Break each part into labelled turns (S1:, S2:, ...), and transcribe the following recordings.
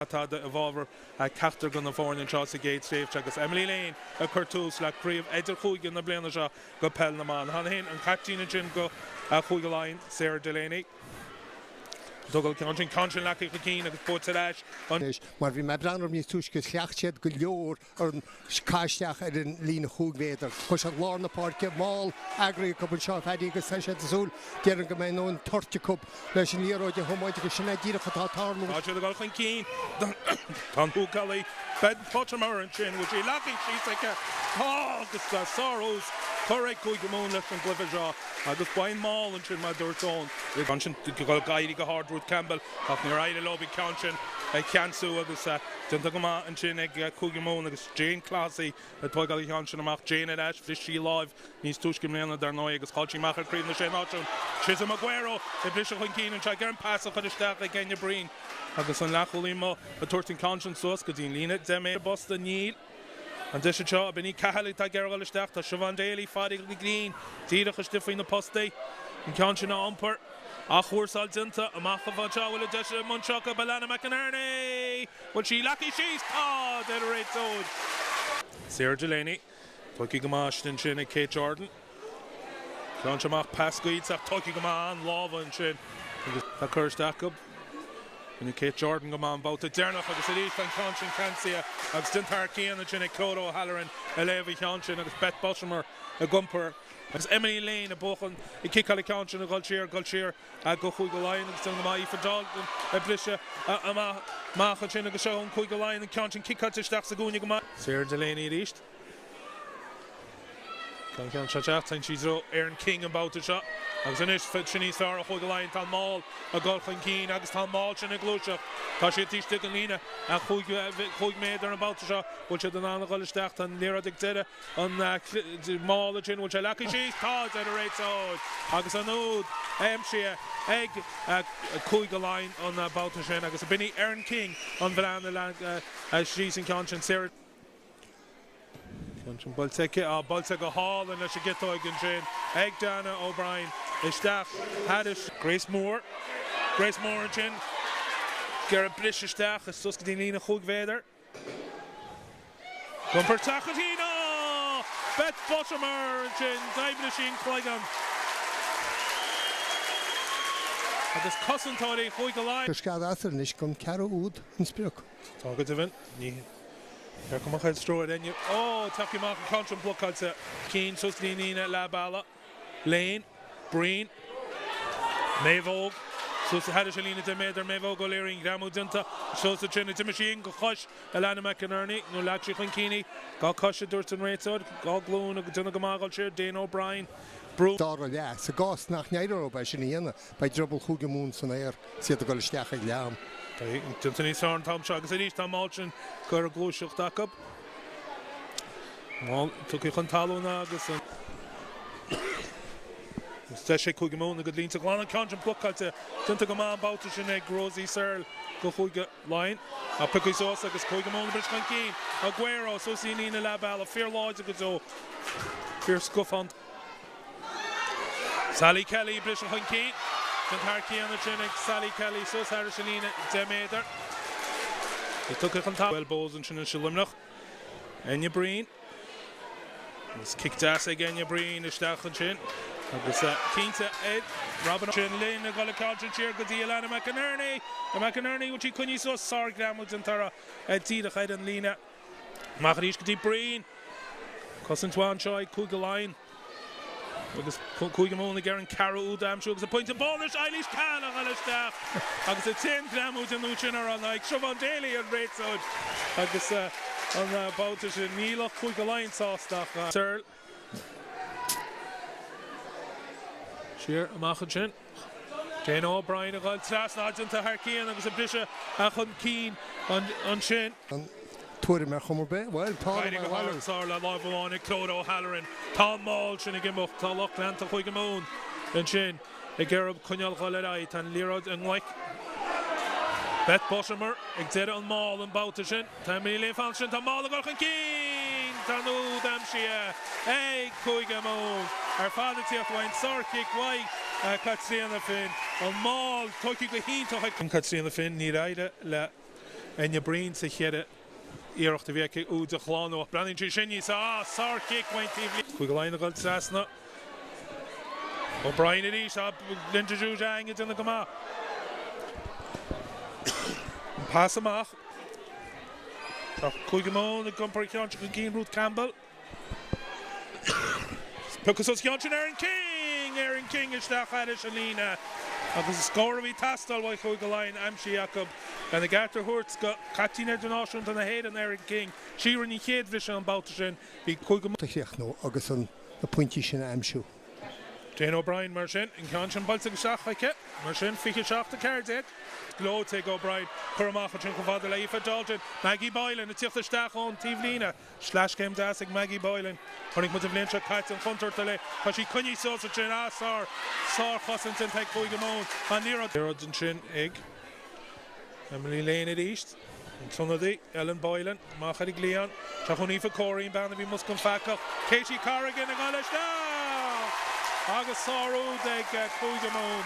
S1: atá i bhfabhar ceachtar de na foirne anseo sa gcéad tréimhse agus Emily Lane ag cur tús le craobh idirchúige na bliana seo do pheil na mban. Tháinig féin an caiptín ansin do Chúige Laighean, Sarah Delaney. Tógáil an ceann sin, ceann sin leagtha chun cinn agus buaite ar ais an. Mar bhí mé ag breathnú orthu
S2: níos túisce, chleacht siad go leor an caith isteach ar an líne chúig mhéadar. Chuir siad lár na páirce mall eagraithe acu anseo, a Phaddy, agus tá siad ag súil, déarfainn, go mbeidh a ndóthain toirt acu leis an liathróid a thiomáint agus sin é díreach atá ag tarlú. Tá siad ag dul chun cinn.
S1: Tá an húcálaí Beth Buttimer ansin, bhfuil sí leagtha síos aici? Tá agus tá sárthús curtha ag Cúige Mumhan leis an gcluiche seo agus ba é an mall ansin mar a dúirt Eoin. Ansin d'éirigh go hard Ruth Campbell ach níor éirigh leo an ceann sin a cheansú agus, Déanta go maith ansin ag Cúige Mumhan agus Jane Clohessy ag tógáil an cheann sin amach. Jane ar ais, bhris sí láimh níos túisce i mbliana, dar ndóigh, agus chaill sí amach ar Chraobh na Sé Náisiún. Chisom Ugwueru ag briseadh chun cinn anseo ag an pas a chur isteach ag Enya Breen agus an leathchúlaí amuigh ag tabhairt an ceann sin suas go dtí an líne deich méadar. Bosca Níl. An deis anseo, b'in í Cahill atá ag iarraidh a dhul isteach, tá Siobhán Daly, Phádraig Uí Ghriain, díreach istigh faoi na postaí, an ceann sin a iompar, athchúrsáil déanta, amach go fóill. Sea, bhfuil an deis ag Mumhain, seo chugaibh Alana McInerney, bhfuil sí leagtha síos? Tá! Deir an réiteoir. Sarah Delaney, tóigthe go maith ansin ag Kate Jordan. Ceann seo amach pas gairid ach tóigthe go maith an-lámha ansin agus tá cur isteach acu. Rinne Kate Jordan go maith an babhta deireanach agus arís an ceann sin ceansaithe agus den tarr céanna ansin ag Clodagh O'Halloran a léamh an cheann sin agus Beth Buttimer ag iompar agus Emily Lane ag buachan ag ciceáil an ceann sin ag dhul siar, ag dhul siar go Cúige Laighean agus déanta go maith Aoife Dalton ag briseadh amach ansin agus seo Cúige Laighean an ceann sin ciceáilte isteach sa gcúinne go maith. Sarah Delaney arís. Tá an ceann seo isteach. Téann sí i dtreo Erin King an babhta seo agus anois tá sin níos fearr ó Chúige Laighean. Tá an mall ag dul chun cinn agus tá an mall sin ag gluaiseacht. Tá siad istigh i líne a chúig méadar an babhta seo. Bhfuil siad in ann a dhul isteach? Tá an liathróid ag deireadh an mall sin. Bhfuil sé leagtha síos? Tá, deir an réiteoir. Agus an úd aimsithe ag Cúige Laighean an babhta sin agus b'in í Erin King an bhean a leag síos an ceann sin. Sarah. Buailte go hálainn leis an gciotóig ansin ag Dannah O'Brien. Isteach thairis. Grace Moore. Grace Moore ansin. Ag iarraidh briseadh isteach is suas go dtí an líne chúig mhéadar. Ag iompar teach an tí ná Beth Buttimer ansin. D'ísligh sí an cloigeann. Agus cosantóirí Chúige Laighean. Coisceadh as ar anois
S2: an ceathrú úd an sprioc. Tá go
S1: deimhin. Ní thiocfaidh mo chuid stró ar éinne. Ó! Tugtha amach an ceann sin blocáilte, cinn suas an líne leath bealaigh, Lane, Breen, Maeve Óg, suas thairis an líne deich méadar, Maeve Óg O'Leary, an-ghreamú déanta, seol sa tSéanad. D'imigh sí féin go cois Alanna McInerney, nó ar leag sí chun cinn í. Dá cois, a dúirt an réiteoir. Dá glúin agus déanamh go maith a dhul siar. Dannah O'Brien brú. Dá rá
S2: leat, sa gcás nach n-éireodh léi sin a dhéanamh, beidh drioball Chúige Mumhan san aer. 'S iad ag dul isteach ag leath am. Déanta
S1: níos fearr an t-am seo agus arís tá an maul sin curtha ar gluaiseacht acu. Bhuel, tugtha chun talún agus an-deis ag Cúige Mumhan a gcuid línte a ghlanadh, ceann sin blocáilte, déanta go maith an babhta sin ag Rosie Searle do Chúige Laighean. Ach pioctha suas agus Cúige Mumhan ag briseadh chun cinn. Ugwueru suas í an líne leathbhealaigh, fíorláidir go deo, fíorscafánta. Sally Kelly, briseadh chun cinn déanta thar cionn ansin ag Sally Kelly suas thairis an líne deich méadar. Is tugtha chun talún Bohs ansin anseo i Luimneach. Enya Breen. Is cic deas ag Enya Breen isteach ansin agus cinnte ag Robyn sin linn a dhul ag ceann siar go dtí Alanna McInerney. McInerney bhfuil sí coinnithe suas sár-ghreamú déanta uirthi díreach ar an líne. Amach arís go dtí Breen. Cosaint mhaith anseo ag Cúige Laighean agus Cúige Mumhan ag iarraidh an ceathrú úd a aimsiú agus an pointe bónais Eilís Cahill a dhul isteach agus an t-an-ghreamú déanta uirthi sin ar an aghaidh. Siobhán Daly an réiteoir agus an babhta sin níl lucht Chúige Laighean sásta ach Searle. Siar amach ansin. Dannah O'Brien a dhul trasna déanta thar cionn agus a briseadh chun cinn ansin. an tuairim
S2: ar chuma ar bith. Bhuel, faighte go hard san
S1: aer le láimh amháin ag Clodagh O'Halloran. Tá an maul sin ag imeacht. Tá lucht leanta Chúige Mumhan ansin. ag iarraidh orthu coinneáil a dhul ar aghaidh. Tá an liathróid i nglaic Beth Buttimer ag deireadh an maul an babhta sin. Tá Emily Lane fanta ansin. Tá an maul ag dul chun cinn! Tá an úd aimsithe ag Cúige Mumhan ar fad ag tíocht uaidh an sárchic uaidh Caitríona Finn. An maul tógtha go hiontach ag Caitríona Finn. Níor éirigh le Enya Breen sa chéad iarracht a bhí aici úd a shlánú ach breathnaíonn sí sin níos fearr, sárchic ón taobhlíne. Cúige Laighean a dhul trasna. O'Brien arís ah Linda Djougang ag déanamh go maith. An pas amach. Tá Cúige Mumhan ag iompar an ceann sin chun cinn Ruth Campbell. Piocas os cionn sin Erin King! Erin King isteach thairis an líne agus an scór a bhí ag teastáil uaidh Chúige Laighean aimsithe acu. Lena gceart a thabhairt do chaiptín idirnáisiúnta na hÉireann, Erin King, sí a rinne an chéad bhriseadh an babhta sin, bhí Cúige. a chríochnú
S2: agus na pointí sin a aimsiú.
S1: Dannah O'Brien mar sin, an ceann sin buailte isteach chuici. Mar sin, 27, 14. Gleoite ag O'Brien, cur amach ansin chomh fada le Aoife Dalton. Maggie Boylan ag tíocht isteach ón taobhlíne. Sleaschéim deas ag Maggie Boylan. Chonaic muid an bhliain seo caite an chontúirt atá léi. Tá sí coinnithe suas ansin is sár, sárchosaint déanta ag Cúige Mumhan. An liathróid ansin ag Emily Lane arís. An t-ionadaí, Ellen Boylan, amach ar an gcliathán. Isteach chun Aoife Corey, an bhean a bhí i measc an phaca. Katie Corrigan ag dul isteach! Agus sár úd ag Cúige Mumhan.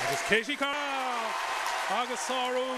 S1: Agus Katie Corrigan! Agus sár úd.